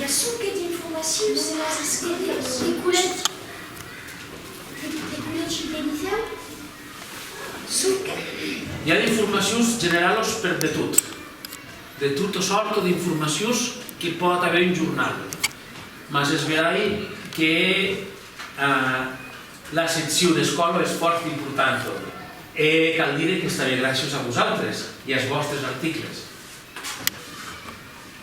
I a sonque d'informacius e las esquerriós. De culet, de culet gibelizau, sonque. I a d'informacius generalos per de tot, de tota sòrta d'informacius que pòt aver un jornal, mas es verai que la seccion escòla es fòrt importanta e cal dire qu'es tanben gràcias a vosautres e as vòstres articles.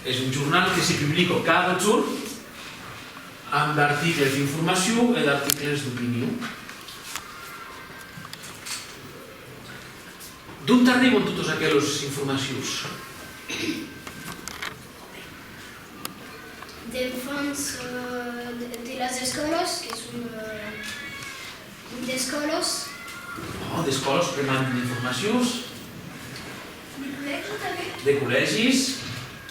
Es un jornal que se publica cada jorn amb d'articles d'informacion e d'articles d'opinion. D'ont arriban totes aquelas informacions? D'enfants de las escòlas, que son d'escòlas. Bon, d'escòlas que mandan d'informacions. De collègi tanben? De collègis.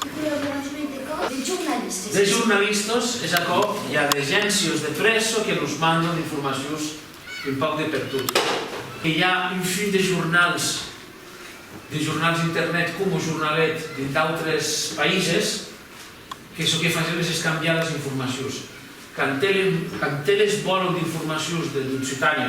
De collaboratori de còrs. De jornalistes. De jornalistas, es aquò, i a d'agéncias de prèssa que nos mandan d'informacions un pauc de pertot. Que i a un fin de jornals, de jornals internet coma Jornalet dins d'autres païses, que çò que fasèm es escambiar las informacions. Quand eles vòlan d'informacions de l'Occitània,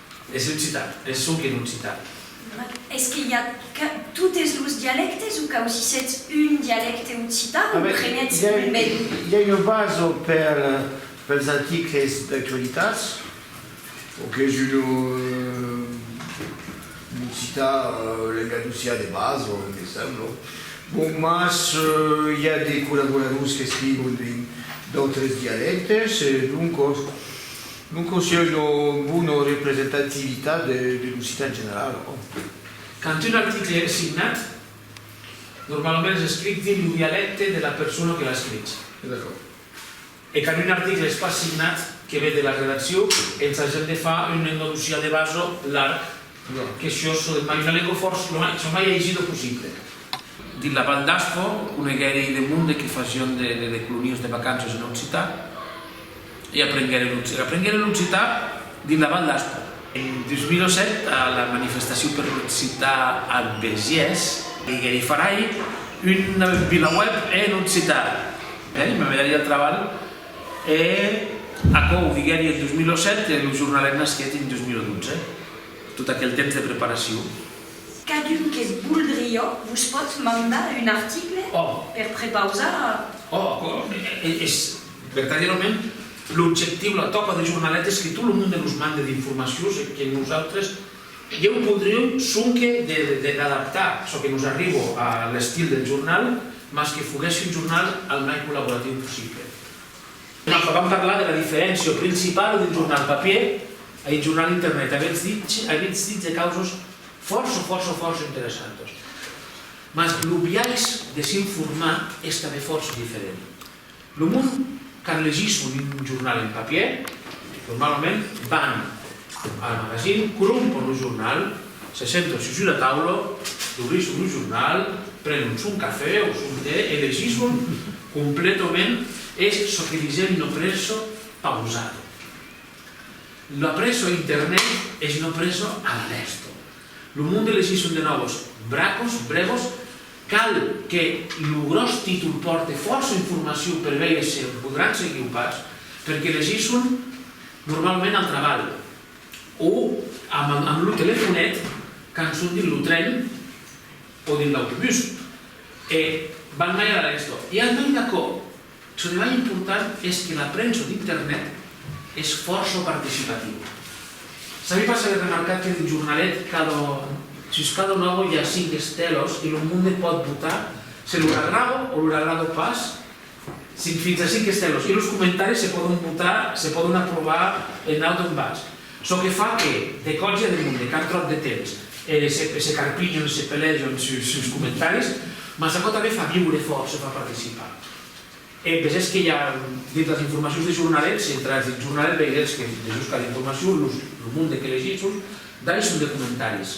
Es occitan, es çò qu'en occitan. Es que i a totes los dialèctes o cau si sètz un dialècte occitan o prenètz un ben? I a una basa per pels articles d'actualitats o qu'es un occitan lengadocian de basa, me sembla. Bon, mas i a de collaboradors qu'escrivon en d'autres dialèctes e doncas. Non consièlho bona representativitat de l'occitan general, òc. Quand un article es signat, normalament es escrich dins lo dialècte de la persona que l'a escrich. E quand un article es pas signat, que ve de la redaccion, ensagem de far un endalusià de basa, larg, Lo que s'iò sò de Paisa Leco fòrç lo mai, sò mai aisi lo possible. Dins la Val d'Aspo, coneguèri de monde que fasión de de colonias de vacanças en occitan e aprenguèri l'occitan. Aprenguèri l'occitan dins la Val d'Aspo. En 2007, a la manifestacion per l'occitan a Besiès, diguèri farai una vilaweb en occitan, e mai me daria el trabalh. E aquò o viguèri en 2007 e lo jornalet nasquèt en 2012. Tot aquel temps de preparacion. Cadun que's voldrió vos potz mandar un article per prepausar. Oh, aquò es vertadièrament l'objectiu, la tòca de jornalet es que tot lo monde nos mande d'informacions e que nosautres Ieu podriu sonque de redactar çò que nos arribo a l'estil del jornal, mas que foguèsse un jornal al mai collaboratiu possible. Enfin, vam parlar de la diferéncia principala d'un jornal papier a un jornal internet. Avètz dit de causas fòrça, fòrça, fòrça interessantas. Mas lo biais de s'informar es tanben fòrça diferent. Lo mond, quand legisson un jornal en papièr, normalament van a la magazin, corrompon lo jornal, se senton sus una taula, dobrisson lo jornal, prenon son cafè o son tè e legisson completament es çò que disèm no presso pausato. La presso internet es no presso all'alerto. Lo monde legisson de nòvos bracos, brevos, Cal que lo gròs títol pòrte fòrça informacion per veire se o podràn seguir o pas, perque las i son normalament al trabalh o amb lo telefonet quand son dins lo tren o dins l'autobús e van mai a la lençò. I al mai d'aquò, Ce mai important es que la premsa d'Internet es fòrça participativa. Sabi pas avètz remarcat que d'un jornalet cada sus cada logo i a cinc estèlos que lo monde pòt votar se los agrado o los agrado pas, fins a cinc estèlos, e los comentaris se pòdon votar, se pòdon aprovar en naut o en bas. Çò que fa que, de còps i a de mond e qu'an tròp de temps, se carpinhon, se pelejon suls comentaris, mas aquò tanben fa viure fòrça, fa participar. E vesètz que i a, dins las informacions de jornalet, si entratz dins jornalet veirètz que, dejusca d'informacion, lo monde que legitz sus, dai son de comentaris.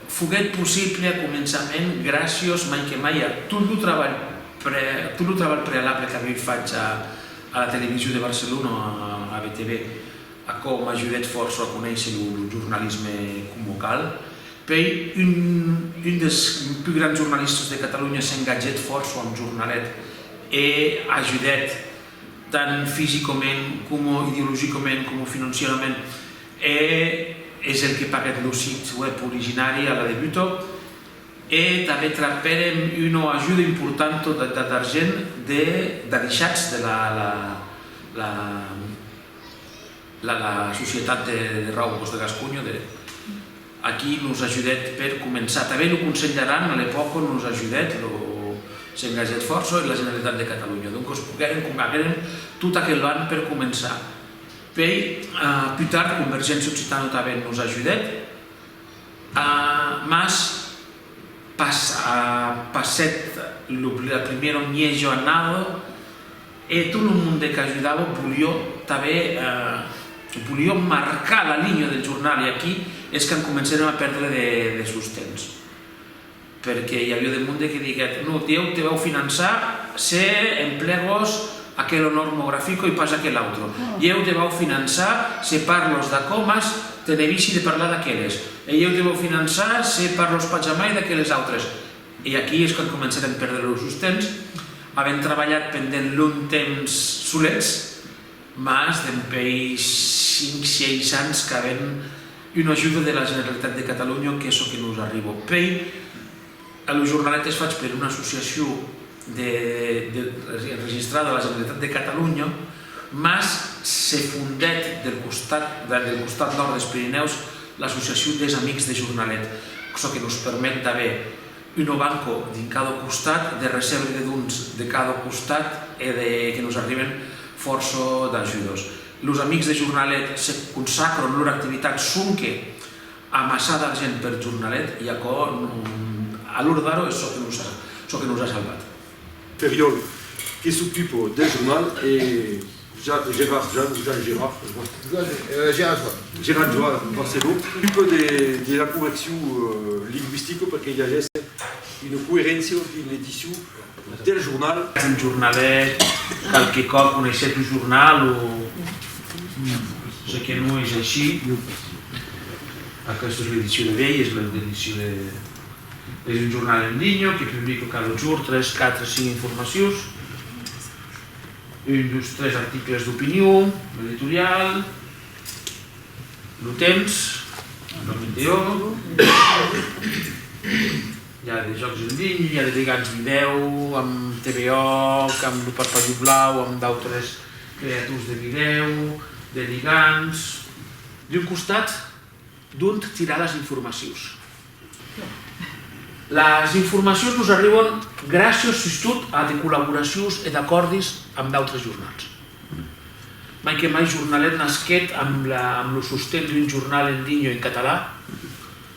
Foguèt possible a començament gràcios mai que mai a tot lo trabalh tot lo trabalh prealable qu'avioi fach a a la Television de Barcelona, a BTB, aquò m'ajudèt fòrça a conéisser lo jornalisme coma cal. Puèi un un dels pus grands jornalistas de Catalonha s'engatgèt fòrça amb Jornalet e ajudèt tant fisicament coma ideologicament coma financierament. E es el que paguèt lo sit web originari a la debuta e tanben trapèrem una ajuda importanta d'argent de d'adichatz de la societat de raucos de Gasconha de a qui nos ajudèt per començar. Tanben lo Conselh d'Aran a l'epòca nos ajudèt, s'engagèt fòrça e la Generalitat de Catalonha. Doncas poguèrem, combagèrem tot aquel an per començar. Pei pus tard Convergéncia Occitano tanben nos ajudèt, mas pas passèt la primièra mièg jornada e tot lo monde qu'ajudava volió tanben volió marcar la linha del jornal e aquí es quand comencèrem a pèrdre de sostens. Perque i avió de monde que diguèt, no, Dieu te vau finançar se emplegos aquel onor mo grafico i pas aquel autro. Ieu te vau finançar se parlos d'aquò mas te nevissi de parlar d'aqueles. E ieu te vau finançar se parlos pas jamai d'aqueles autres. E aquí es quand comencèrem perdre lo sostens, avent trabalhat pendent lung temps solets, mas dempei cinc, sièis ans qu'avem Una ajuda de la Generalitat de Catalunya qu'es çò que nos arriba. Pei a lo jornalet qu'es fach per una associacion de de enregistrada a la Generalitat de Catalunya, mas se fondèt del costat vers el costat nòrd des Pirinèus l'associacion des Amics de Jornalet, çò que nos permet d'aver una banca dins cada costat, de recebre de dons de cada costat e de que nos arriben fòrça d'ajudas. Los amics de Jornalet se consacron lor activitat sonque amassar d'argent per Jornalet e aquò a lor dar-o es çò que nos a salvat. Ferriòl, que s'ocupa del jornal e Gerard Jan o Jan Gerard, es vòstre? Gerard Joan. Gerard Joan Barceló, que s'ocupa de la correccion lingüistica perque i agèsse una coeréncia dins l'edicion. Del jornal. Un jornalet, qualque còp coneishèt lo jornal o se que non es aicí. Aquesta es l'edicion de uèi, es l'edicion de. Es un jornal en linha que publica cada jorn tres, quatre, cinc informacions, un, dos, tres articles d'opinion, l'editorial, lo temps, la metèo. I a de jòcs en linha, i a de legats vidèo amb TVOC, amb Lo Parpalhu Blau, amb d'autres creators de vidèo, de ligants. D'un costat, d'ont tirar las informacions? Las informacions nos arribon gràcias sustot a de collaboracions e d'acòrdis amb d'autres jornals. Mai que mai Jornalet nasquèt amb lo sosten d'un jornal en linha en català,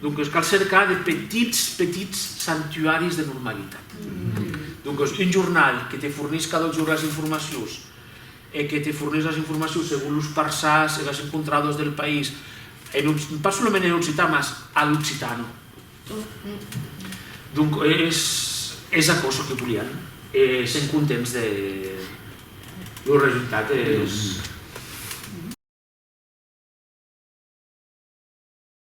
Doncas cal cercar de petits, petits sanctuaris de normalitat. Doncas un jornal que te fornís cada jorn las informacions e que te fornís las informacions segon los parsàs e las encontradas del país, en, pas solament en occitan, mas a l'occitano. Donc es, es aquò çò que volián e sen contents de lo resultat. Es...